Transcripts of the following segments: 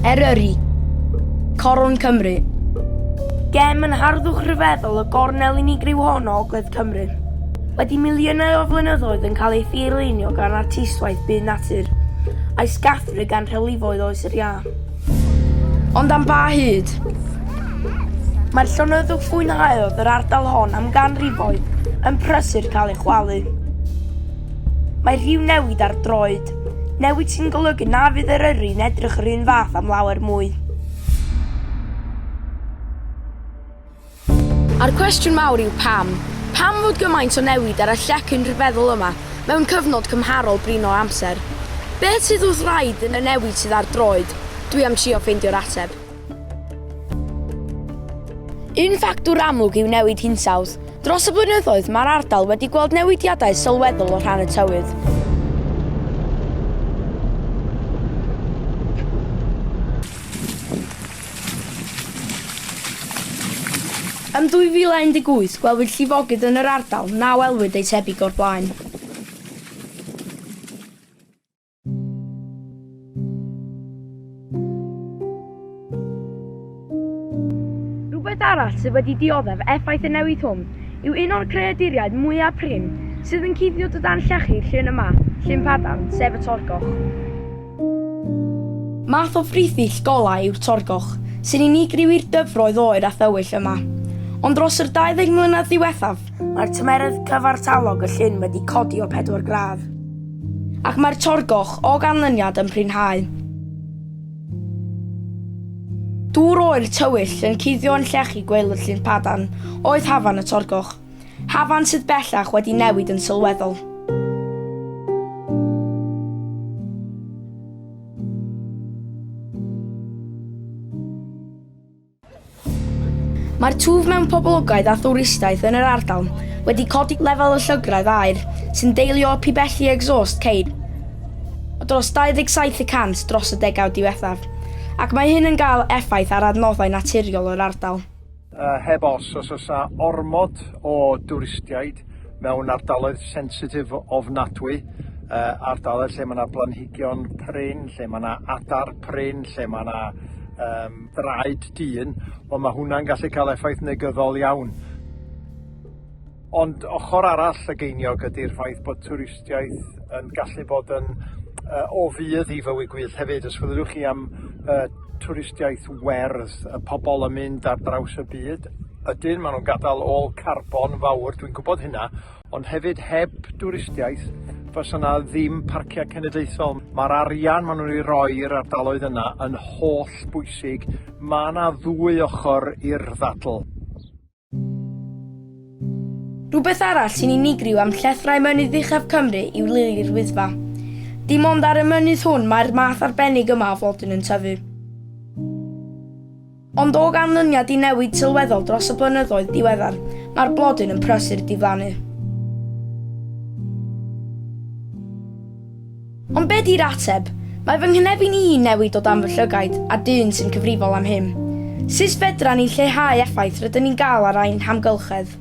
Eryri, Coron Cymru. Gem yn harddwch rhyfeddol y gornel unigryw hon o Ogledd Cymru. Wedi miliynau o flynyddoedd yn cael ei thir-leinio gan artistwaith byd natur, a'i sgathru gan rhewlifoedd Oes yr Iâ. Ond am ba hyd? Mae'r llonyddwch fwynhaodd yr ardal hon am ganrifoedd yn prysur cael ei chwalu. Mae rhyw newid ar droed, newid sy'n golygu na fydd Eryri'n edrych yr un fath am lawer mwy. A'r cwestiwn mawr yw pam? Pam fod gymaint o newid ar y llecyn rhyfeddol yma mewn cyfnod cymharol brin o amser? Beth sydd wrth wraidd yn y newid sydd ar droed? Dwi am trio ffeindio'r ateb. Un ffactor amlwg yw newid hinsawdd. Dros y blynyddoedd, mae'r ardal wedi gweld newidiadau sylweddol o rhan y tywydd. Yn 2018, gwelwyd llifogydd yn yr ardal, na welwyd ei tebyg o'r blaen. Rhywbeth arall sydd wedi dioddef effaith y newid hwn yw un o'r creaduriaid mwyaf prin sydd yn cuddio dy dan llechi'r llyn yma, Llyn Padarn, sef y Torgoch. Math o frithill golau yw'r torgoch, sy'n unigryw i'r dyfroedd oer a thywyll yma. Ond dros yr 20 mlynedd ddiwethaf, mae'r tymerydd cyfartalog y llyn wedi codi o 4 gradd. Ac mae'r torgoch, o ganlyniad, yn prinhau. Dŵr oer tywyll yn cuddio yn llechi gwely'r llyn padarn oedd hafan y torgoch. Hafan sydd bellach wedi newid yn sylweddol. Mae'r twf mewn poblogaeth a thwristiaeth yn yr ardal wedi codi lefel y llygredd aer sy'n deillio o pibelli exhaust ceir o dros 27 y cant dros y degawd diwethaf, ac mae hyn yn cael effaith ar adnoddau naturiol yr ardal. Heb os, os oes a ormod o dwristiaid mewn ardaloedd sensitif ofnadwy, ardaloedd lle mae yna blanhigion prin, lle mae yna adar prin, lle mae yna um, draed dyn, ond mae hwnna'n gallu cael effaith negyddol iawn. Ond ochr arall y geiniog ydy'r ffaith bod twristiaeth yn gallu bod yn yy o fudd i fywyd gwyllt hefyd. Os fedrwch chi am yy twristiaeth werdd, y pobl yn mynd ar draws y byd, ydyn, maen nhw'n gadael ôl carbon fawr, dwi'n gwybod hynna, ond hefyd heb dwristiaeth fysa yna ddim parciau cenedlaethol. Mae'r arian maen nhw'n ei roi i'r ardaloedd yna yn holl bwysig. Mae yna ddwy ochr i'r ddadl. Rhywbeth arall sy'n unigryw am llethrau mynydd uchaf Cymru yw lili'r Wyddfa. Dim ond ar y mynydd hwn mae'r math arbennig yma o flodyn yn tyfu. Ond o ganlyniad i newid sylweddol dros y blynyddoedd diweddar, mae'r blodyn yn prysur diflannu. Ond be di'r ateb? Mae fy nghynefin i'n newid o dan fy llygaid a dyn sy'n cyfrifol am hyn. Sut fedran ni lleihau effaith rydyn ni'n gael ar ein hamgylchedd?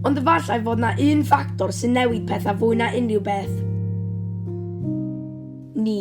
Ond efallai fod 'na un ffactor sy'n newid pethau fwy na unrhyw beth. Ni.